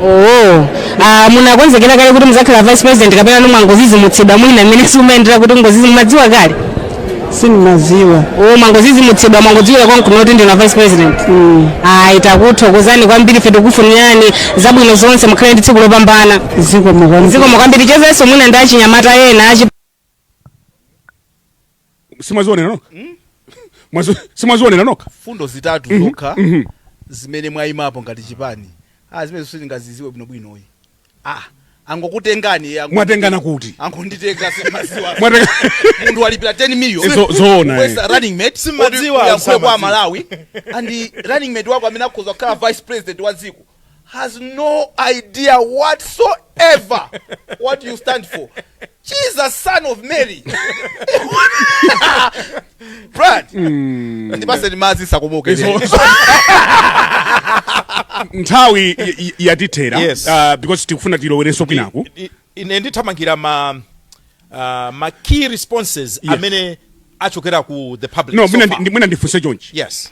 Oh, ah, munakonzekera kale kuti muzakhala vice president kapena mwangozizimutsidwa mwina mmene simumayendera kuti ngozizi mumadziwa kale sindimaziwa oh, mwangozizimutsidwa mwangodziwira konkuno kuti ndinu a vice president ayi takuthokozani kwambiri ife tikufunirani zabwino zonse mukhale ndi tsiku lopambana zikomo kwambiri zikomo kwambiri tichezenso mwina ndi achinyamata ena achi simwazionera nokha Mwazo- simwazionera nokha mfundo zitatu zokha zimene mwayimapo ngati chipani ah zimene sitingaziziwe bwinobwinoyi ah angokutengani eh, ango- mwatengana kuti angonditenga simaziwa Mwatenga- munthu walipira 10 million Zo- zoona, eh. Wesa running mate Simadziwa, Oti uyankhule kwa samadziwa. malawi and running mate wako amene akhoza kukhala vice president wa dziko has no idea whatsoever what you stand for. Jesus, son of Mary. Brad. Ndipatseni madzi ndisakomoke. Izo- nthawi y- y- yatithera Yes. uh, because tikufuna tilowerenso kwinaku I- ine ndithamangira ma uh, ma key responses amene achokera ku the public no so mwina far. ndi- mwina ndifunse chonchi yes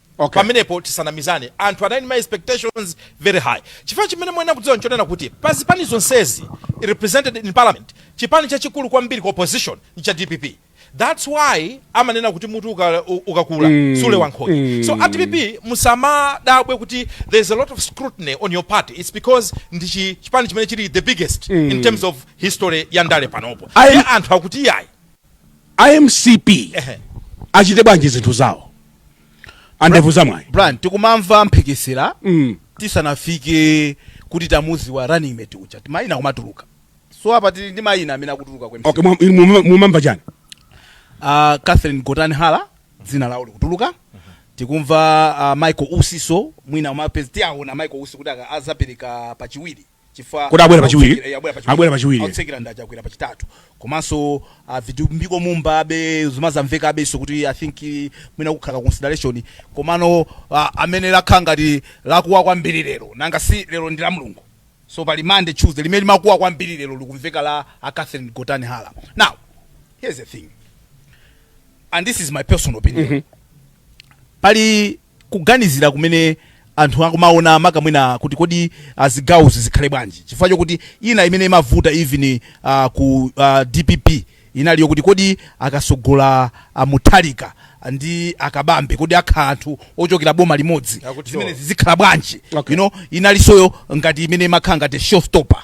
Okay. pamenepo tisanamizane anthu anali ndi ma expectations very high chifukwa chimene muyenera kudziwa nchonena kuti pa zipani zonsezi represented in parliament chipani chachikulu kwambiri ku opposition ncha dpp thats why amanena kuti mutu uka- u- ukakula Eh, sulewa nkhonya eh. so at dpp musamadabwe kuti there's a lot of scrutiny on your party it's because ndi chi- chipani chimene chili the biggest Eh. in terms of history ya ndale panopo I- Ndiye anthu akuti yayi a mcp Ehe. achite bwanji zinthu zawo andevu zamwayi brian tikumamva mphekesera Mm. tisanafike kuti tamuziwa running mate uja timayina kumatuluka so apa tili ndi mayina amene akutuluka ku MCP. okay mwa- inu muma- mumamva chani Ah, catherine gotani hara dzina lawo likutuluka tikumva ah, michael usiso mwina umapezi tiawona michael usi kuti aka- azapereka pachiwiri kuti abwera pachiwiri abwera pachiwiri otsekera ndi a chakwera pachitatu komanso ah, vitumbiko mumba abe zimazamveka abenso kuti i think eh, mwina kukhala consideration komano ah, amene lakhala ngati lakuwa kwambiri lero nanga si lero ndi la mulungu so pali monday tuesday limene limakuwa kwambiri lero likumveka la a catherine gotani hara now here's the thing and this is my personal opinion pali kuganizira kumene anthu akumaona maka mwina kuti kodi uh, zigawozi zikhale bwanji chifukwa chokuti ina imene imavuta even uh, ku uh, dpp inali yokuti kodi akasogola uh, mutharika ndi akabambe kodi akhala anthu ochokera boma limodzi Akuti zimenezi zikhala bwanji Okay. you know inalisoyo ngati imene imakhala ngati showstopper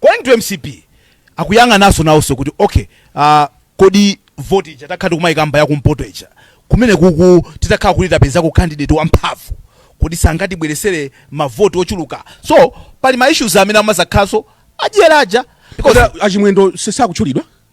Going to mcp akuyang'ananso nawonso kuti okay ah, kodi voti ija takhala tikumayikamba yakumpoto ija kumene kuku titakhala kuti tapezako candidate wamphamvu kodi sangatibweresere mavoti ochuluka so pali ma issues amene amazakhalanso adyera aja because Kodi a chimwendo sakutchulidwa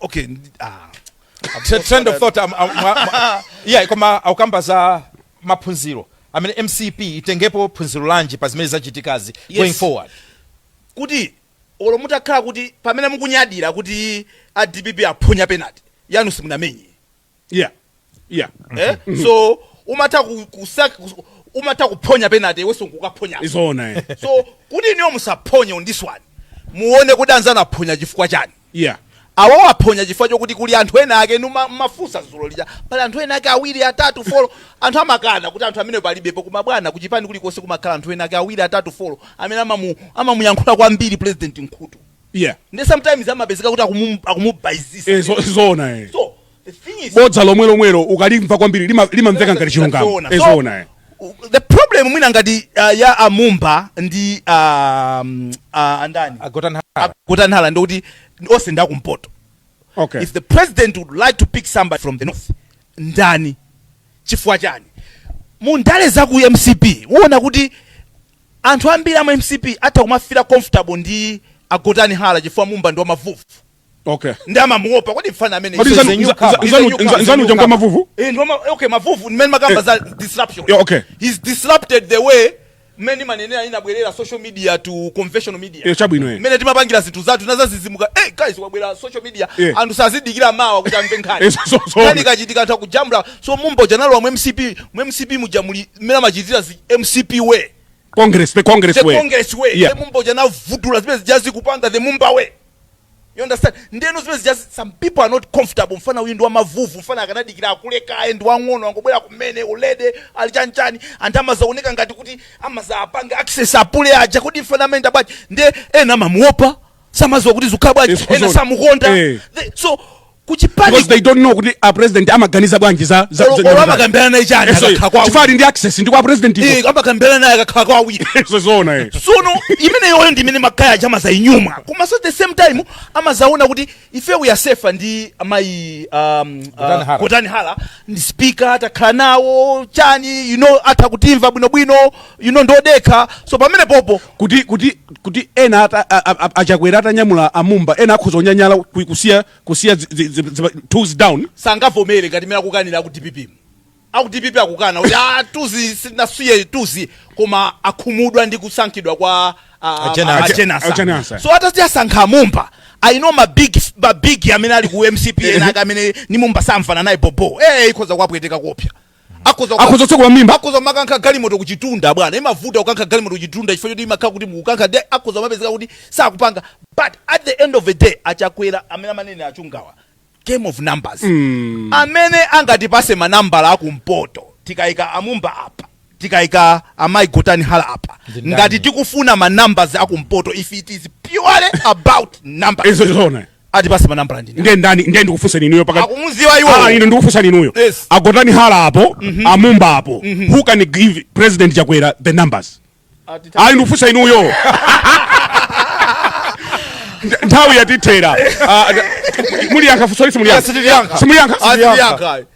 okay ah. T- trend of thought am- am- mwa- mwa- yeah koma akukamba za maphunziro i mean mcp itengepo phunziro lanji pa zimene zachitikazi Yes. going forward kuti olo mutakhala kuti pamene mukunyadira kuti a dpp aphonya penalty yanu simunamenye yeah yeah eh? so umatha ku- kusa- kus- umatha kuphonya penalty iwenso nkukaphonya nzoona eh. so kuti inuyo musaphonye on this one muone kuti anzanu aphonya chifukwa chani yeah awo aphonya chifukwa chokuti kuli anthu ena ake inu ma- mafunsa zulo lija pali anthu ena ake awiri atatu folo anthu amakana kuti anthu amene palibepo koma bwana kuchipani kulikonse kumakhala anthu ena ake awiri atatu folo amene amamu- amamuyankhula kwambiri president m'khutu yeah ndi sometimes amapezeka kuti akumu- akumubaizisa Eh, zo- zoona eh. so the thing is bodza lomwe lomwelo ukalimva kwambiri lima- limamveka ngati chilungamo Zoona. Eh, So, zoona eh. u- the problem mwina ngati uh, ya a Mumba ndi um, uh, a ndani a Gotani Hara a Gotani Hara ndikuti onse ndi akumpoto okay if the president would like to pick somebody from the north ndani chifukwa chani mu ndale za ku mcp uona kuti Anthu ambiri amu mcp atha kumafila comfortable ndi a Gotani Hara chifukwa Mumba ndi wa mavuvu Okay. ndi amamuopa kodi mfana amene Kodi He's a nzanu- new nza- comer. nza- He's a nzanu- new comer. nza- nzanu uja ngwa mavuvu? Eh, ndi wa ma- okay mavuvu ndi mmene makamba za disruption Yeah, okay. he's disrupted the way mmene manenera inabwerera social media to conventional media Eh, chabwino, eh. mmene timapangira zinthu zathu nazazizimuka hey guys wabwera social media Eh. anthu sazidikira mawa kuti amve nkhani Eh, so- so- so- nkhani ikachitika anthu akujambula so mumba uja analowa mu mcp mu mcp muja muli mmene amachitira zi mcp way congress the congress the way congress way Yeah. the mumba uja anavundula zimene zija zikupanga the mumba way you understand ndeno zimene zija zi- some people are not comfortable mfana uyu ndi wa mavuvu mfana akanadikira akule kaye ndi wang'ono angobwera kumene already ali chanichani anthu amazaoneka ngati kuti amazaapanga access a pule aja kodi mfana amene ndi wabwanji nde ena amamuopa samaziwa kuti zikukhala bwanji Yes, ena kuzona. samukonda Eh. The- so kuchipani because they don't know kuti a president amaganiza bwanji za za- za- olo amakambirana naye chani Eh, so, akakhala kwa chifukwa ali ndi access ndi kwa president iko. Eh, amakambirana naye akakhala kwa awiri so zoona eh sono imeneyoyo ndi imene magaye aja amazayinyumwa koma so at the same time amazaona kuti ife we are safer ndi amayi um, Gotani uh, Hara. Gotani Hara ndi speaker atakhala nawo chani you know atha kutimva bwinobwino you know ndi odekha so pamene popo kuti kuti kuti ena ata, a, a, a, achakwera atanyamula a Mumba ena akhoza kunyanyala ku- kusiya kusiya zi- zi- zi- zi- tools down sangavomere ngati mene akukanira aku dpp mu. aku dpp akukana kuti "Ah, tools sanasiye tools koma akhumudwa ndi kusankhidwa kwa ah, a Jane Ansah. ah, a Jane Ansah. A Jane Ansah. so atati asankha a Mumba I know mabig mabig amene ali ku mcp ena ake amene ndi Mumba samvana naye bobo eh ikhoza kuwapweteka koopsya akhoza kuka- akhoza kutsekula mimba akhoza kumakankha galimoto kuchitunda bwana imavuta kukankha galimoto kuchitunda chifukwa choti imakhala kuti mukukankha nde akhoza mapezeka kuti sakupanga but at the end of the day achakwera mmene amanenera a Chungawa game of numbers amene angatipase manambala akumpoto tikayika a Mumba apa tikayika amayi Gotani Hara apa Zindani. ngati tikufuna ma numbers akumpoto if it is purely about numbers izo chizona atipase manambala ndine ndiye ndani ndiye ndikufunseni inuyo pakati akumuziwa ah, iwo ah ine ndikufunsani inuyo Yes. a Gotani Hara apo mhm. a Mumba apo mhm. who can give president chakwera the numbers ayi ndikufunsa inuyo nthawi yatithera ah, muliyankha funsoli simuliyankha simuliyankha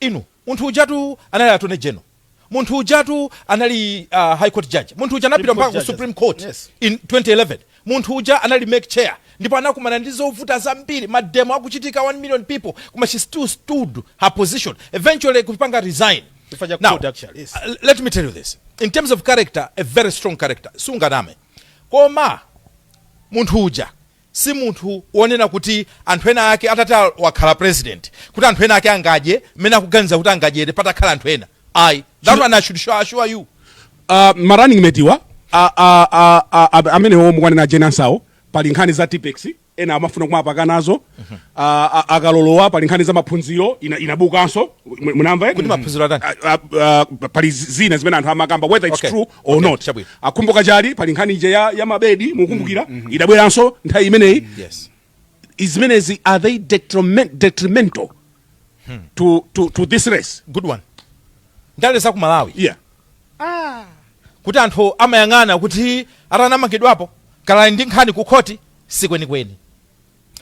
Inu, munthu ujatu anali attorney general, munthu ujatu anali a high court judge, munthu uja anapita mpaka ku supreme court in 2011, munthu uja anali mec chair ndipo anakumana ndi zovuta zambiri, mademo akuchitika 1 million people koma she still stood her position eventually kupanga resign. Now, let me tell you this, in terms of character, a very strong character, sunganame koma munthu uja si munthu wonena kuti anthu ena ake atati wakhala president kuti anthu ena ake angadye mmene akuganiza kuti angadyere patakhala anthu ena ayi that one I should show, assure you Uh, marunning mate wa a- a- a- a- a- amenewo mukwanena a Jane Ansahwo pali nkhani za tipex ena amafuna kumapaka nazo A- a- akalolowa pali nkhani za maphunziro ina- inabukanso mu- munamva eti? kuti maphunziro atani A- a- a- pali zi- zina zimene anthu amakamba whether its Okay. true or okay, not chabwino. akumbuka chali pali nkhani ija ya, ya mabedi mukumbukira mm, mm, idabweranso nthawi imeneyi mm, yes. zimenezi are they detriment, detrimental hmm. to, to, to this race good one ndale za ku malawi yeah. ah. kuti anthu amayang'ana kuti ati anamangidwapo kaya ali ndi nkhani ku khoti sikwenikweni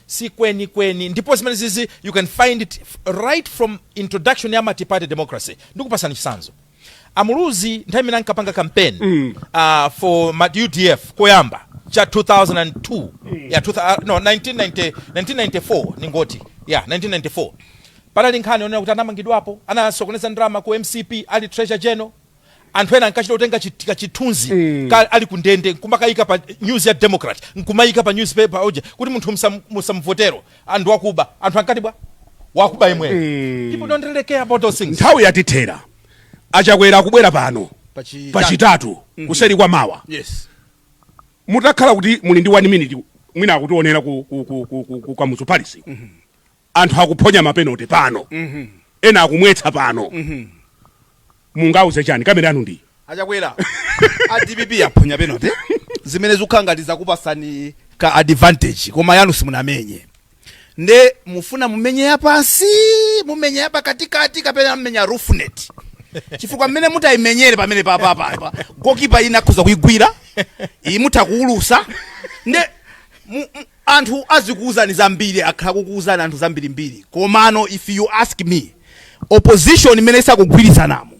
si kweni kweni ndipo zimenezizi you can find it f- right from introduction ya multiparty democracy ndikupasani chisanzo amuluzi nthawi imene ankapanga campaign mm. uh, for ma- udf koyamba cha 2002 mm. ya 2000, uh, no 1990, 1994 ningoti ya 1994 panali nkhani yonena kuti anamangidwapo anasokoneza ndalama ku mcp ali treasurer general anthu ena ankachita kutenga chi- tika chithunzi Eh. ka- ali ku ndende nkumakayika pa news ya democrat nkumayika pa newspaper oje kuti munthu msam- musamvotere ndi wakuba anthu ankati bwa wakuba imwe Eh. people don't really care about those things nthawi yatithera a Chakwera akubwera pano Pachi- pachitatu kuseri kwa mawa yes mutakhala kuti muli ndi 1 minute mwina akutionera ku, ku, ku, ku, ku, ku kamuzu palace anthu akuphonya mapenote pano ena akumwetsa pano mungawauze chani kamera yanu ndi a Chakwera dpp yaphonya penote zimene zikukhala ngati zakupasani ka advantage koma yanu simunamenye nde mufuna mumenye yapansi mumenye yapakatikati kapena mmenya roofnet chifukwa mmene mutayimenyere pamene papapapa gokipa wina akhoza kuyigwira iyi mutha kuwulusa nde mu- mu- Anthu azikuuzani zambiri akhala akukuuzani anthu zambirimbiri komano if you ask me opposition imene isakugwirizanamu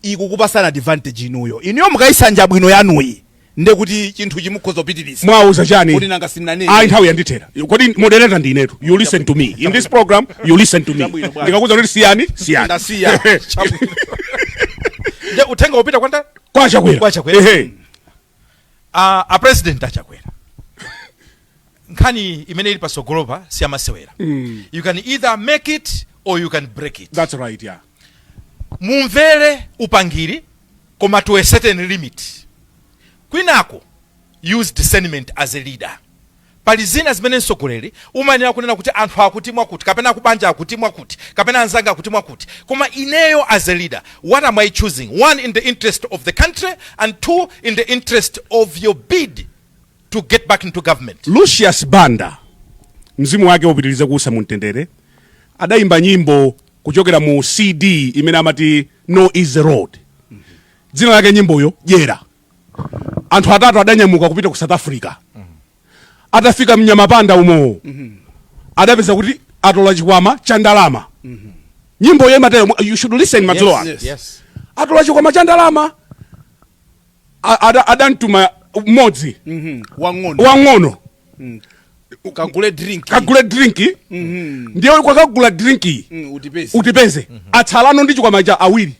ikukupasani advantage inuyo. Inuyo mukayisanja bwino yanuyi nde kuti chinthuchi mukhoza kupitiriza. Muwauza chani? Kodi nanga sindinanene? Ayi nthawi yandithera. Kodi moderator ndi inetu. You listen to me. In this program you listen to me. Ndikakuuzani kuti siyani? Siyani. Ndasiya. Nde uthenga ukupita kwa ndani? Kwa Chakwera. Kwa Chakwera. Ehe. uh, a president achakwera nkhani imene ili pasogolopa siyamasewera Mm. you can either make it or you can break it That's right, yeah. mumvere upangiri koma to a certain limit kwinako use discernment as a leader Pali zina zimene mtsogoleri umayenera kunena kuti anthu akuti mwakuti kapena akubanja akuti mwakuti kapena anzanga akuti mwakuti koma ineyo as a leader what am I choosing one in the interest of the country and two in the interest of your bid to get back into government. Lucius Banda mzimu wake upitirize kuusa mu mtendere adayimba nyimbo kuchokera mu CD imene amati No Easy Road dzina lake nyimboyo dyera anthu atatu adanyamuka kupita ku south africa atafika mnyamapanda umo adapeza kuti atola chikwama cha ndalama nyimboyo imatero you should listen madzulo Yes, ano yes. Yes. atola chikwama cha ndalama A- ada- adamtuma mmodzi wang'ono wang'ono kagule drink kagule drinki ndiye kokagula drinki Mm, utipeze utipeze atsalano ndi chikwama cha awiri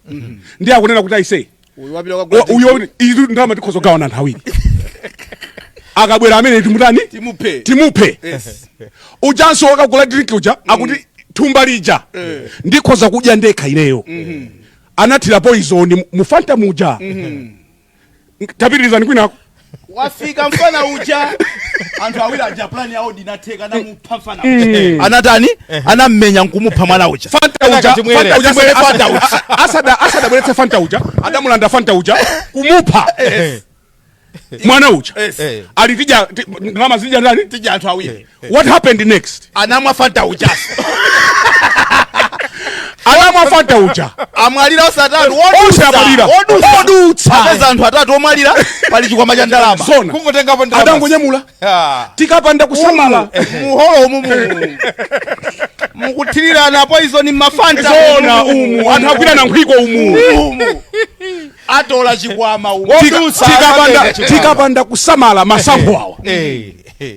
ndiye akunena kuti aise Uyu wapita kwa Wa- uyo wabwino- izi ndalama tikhoza kugawana anthu awiri akabwera amene timutani Timuphe. timuphe Yes. ujanso wokagula drink uja akuti thumba lija ndikhoza kudya ndekha ineyo anathira poizoni mufanta muja tapitirizani kwinako wafika mfana uja anthu awiri aja plan yawo inatheka namupha mfana uja. anatani anammenya nkumupha mwana uja Fanta uja, Katimwere. Fanta uja, Katimwere asada- Fanta uja. asada- asada- asadabweretse fanta uja adamulanda fanta uja kumupha mwana uja Eh. ali tidya ndalama zija ndani tidya anthu awiri what happened next anamwa fanta ujaso anamwa fanta uja amwalira onse atatu Onse amwalira. Odutsa. apeza anthu atatu omwalira pali chikwama cha ndalama zona kungotengapo ndalama adangonyamula Ah. tikapanda kusamala muholo umu mu- mukuthirirana poizoni mmafanta zona umu anthu agwira na nkhwiko umu umu atola chikwama umu Tika- Wodutsa tikapanda- akapeza chikwama. tikapanda kusamala masankho awa Eh, eh.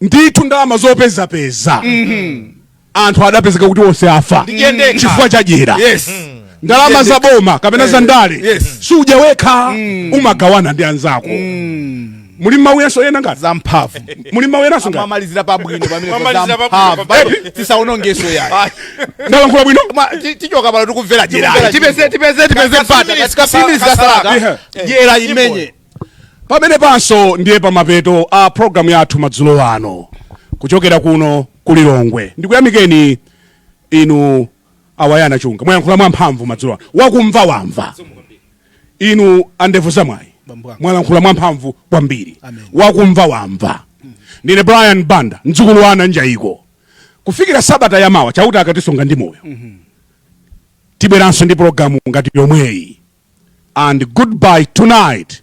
ndithu ndalama zopezapeza mhm. anthu adapezeka kuti onse afa chifukwa chadyera yes. mm ndalama za boma kapena za eh, ndale yes. sudya wekha mm. umagawana ndi anzako mm. muli mawu enanso ena ngati za mphamvu muli mawu enanso ngati ndamalizira pabwino pamene tisaonongeso yayi ndalankhula bwino tichoka pano tikumvera dyerayi tipeze tipeze tipeze mpata katika sini zikasala dyera imeneyi pamenepanso ndiye pamapeto a programu yathu madzulo ano kuchokera kuno ku lilongwe ndikuyamikeni inu a Wonderful Mkhutche mwayankhula mwamphamvu madzulo ano wakumva wamva inu andevu zamwayi Bambo wanga. mwalankhula mwamphamvu kwambiri Amen. wakumva wamva ndine brian banda mdzukulu wa ana njayiko kufikira sabata yamawa chauta akatisunga ndi moyo tibweranso ndi program ngati yomweyi and goodbye tonight